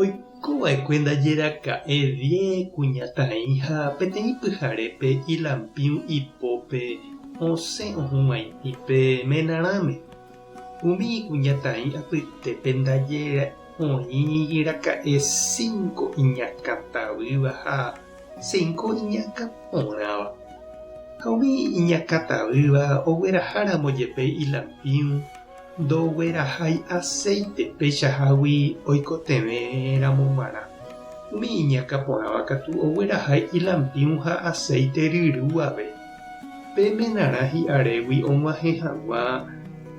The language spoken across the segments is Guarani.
Oikova'ekue ndaje raka'e Vie kuñataĩ ha peteĩ pyharépe ilampiũ ipópe osẽ ohũg̃aitĩ pe menarãme. Umi ikuñataĩ apytépe ndaje oĩ raka'e cinco iñakãtavýva ha cinco iñakã porãva. Ha umi iñakãtavýva ogueraha ramo jepe ilampiũ, Ndoguerahái acéite peichahágui oikotevẽ ramo g̃uarã. Umi iñakã porãva katu oguerahái ilampiũ ha acéite ryrúave. Pe menarã hi'arégui og̃uahẽ haguã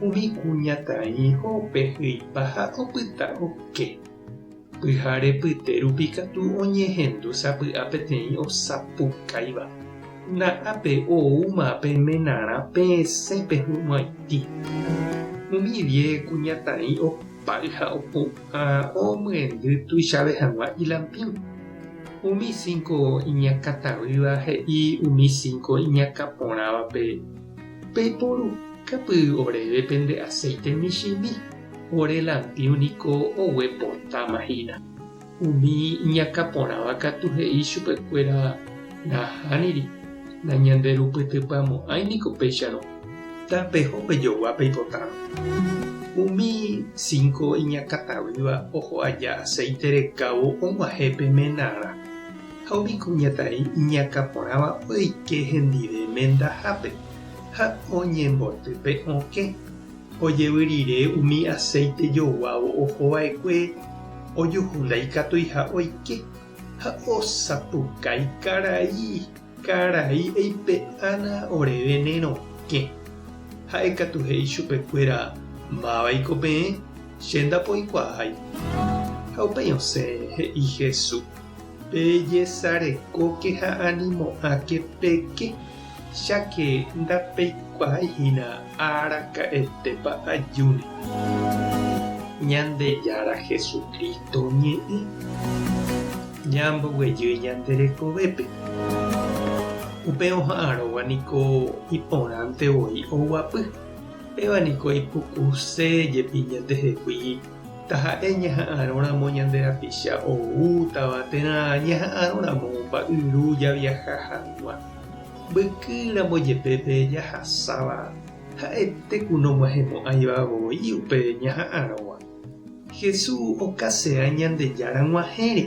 umi kuñataĩ ho'ope hyipa ha opyta oke. Pyhare pyte rupi katu oñehendu sapy'a peteĩ osapukáiva. Na'ápe oúma pe menarã peẽse pehu'ãiti. Umi die kuñataĩ opáy ha opu'ã omyendy tuichave hag̃ua ilampíu. Umi cinco iñakãtavýva he'i umi cinco iñakãporãvape, Peiporukápy oréve pende aceite michĩmi. Ore lantio niko oguepotáma hína. Umi iñakã porãva katu he'i chupekuéra nahániri, nañanderupytypyamo'ãi niko péicharõ. Tapeho pejogua peipotárõ. Umi cinco iñakã taguýva oho aja aceite rekávo og̃uahẽ pe menarã, ha umi kuñataĩ iñakã porãva oike hendive mendahápe ha oñemboty pe okẽ. Ojevy rire umi aséite joguávo oho va'ekue ojuhu ndaikatuiha oike, ha osapukái karai karai eipe'ána oréve ne rokẽ. Ha'e katu he'i chupe kuéra, Mávaiko peẽ, che ndapoikuaái. Ha upéi osẽ he'i Hesu, Pejesarekóke ha animo'ãke peke. cháke ndapeikuaái hína araka'etépa ajúne. Ñandejára Jesucristo oñe'ẽ ñamboguejýi ñande rekovépe, upe oha'arõva niko iporãnte voi oguapy, péva niko ipukuse jepi ñandehegui taha'e ñaha'arõramo ñande rapicha oútava térã ñaha'arõramo mba'yru javiaha hag̃ua. Mbyky ramo jepe pe jahasáva ha'ete ku nog̃uahẽmo'ãiva voi upe ñaha'arõgua. Hesu okase'a Ñandejára g̃uahẽre,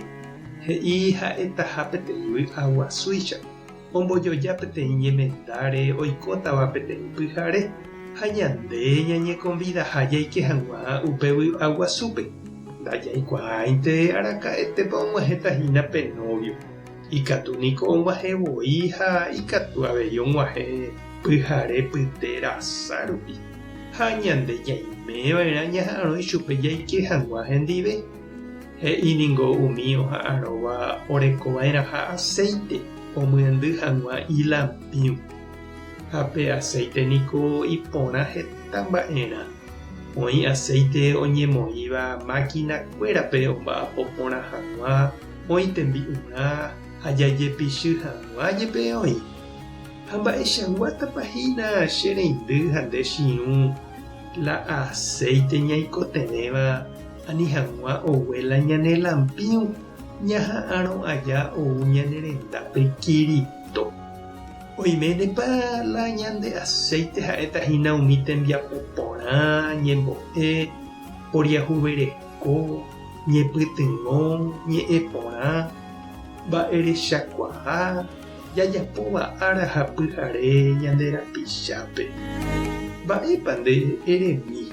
he'i ha'etaha peteĩ vy'a guasúicha, ombojoja peteĩ ñemendáre oikótava peteĩ pyhare, ha ñande ñañekonvidaha jaike hag̃ua upe vy'a guasúpe. Ndajaikuaáinte araka'etépa og̃uahẽta hína pe nóvio. Ikatu niko oguahẽ voi ha ikatu avei oguahẽ pyhare pyte rasa rupi, ha ñande ñaime va'erã ñaha'arõ ichupe jaike hag̃ua hendive. He'i ningo umi oha'arõva oreko va'erãha aséite omyendy hag̃ua ilampĩu. Ha pe aséite niko iporã heta mba'erã. Oĩ aséite oñemoĩva mákina kuérape omba'apo porã hag̃ua, oĩ tembi'urã ha jajepichy hag̃ua jepe oĩ. Ha mba'echaguátapa hína che reindy ha nde chiũ la aséite ñaikotevẽva ani hag̃ua ogue la ñane lampiũ ñaha'arõ aja ou ñane rendápe Kirito. Oiménepa la ñande aséite ha'éta hína umi tembiapo porã, ñembo'e, poriahuvereha. Ko ñepytyvõ ñe'ẽ porã mba'erechakuaa jajapóva ára ha pyhare ñande rapichápe. Mba'épa nde eremi?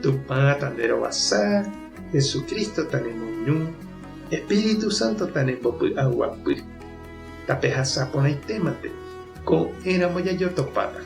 Tupã tanderovasa, Jesucristo tanemoirũ, Espíritu Santo tanembopy'aguapy. Tapehasa porãitéma pe ko éramo jajotopáta.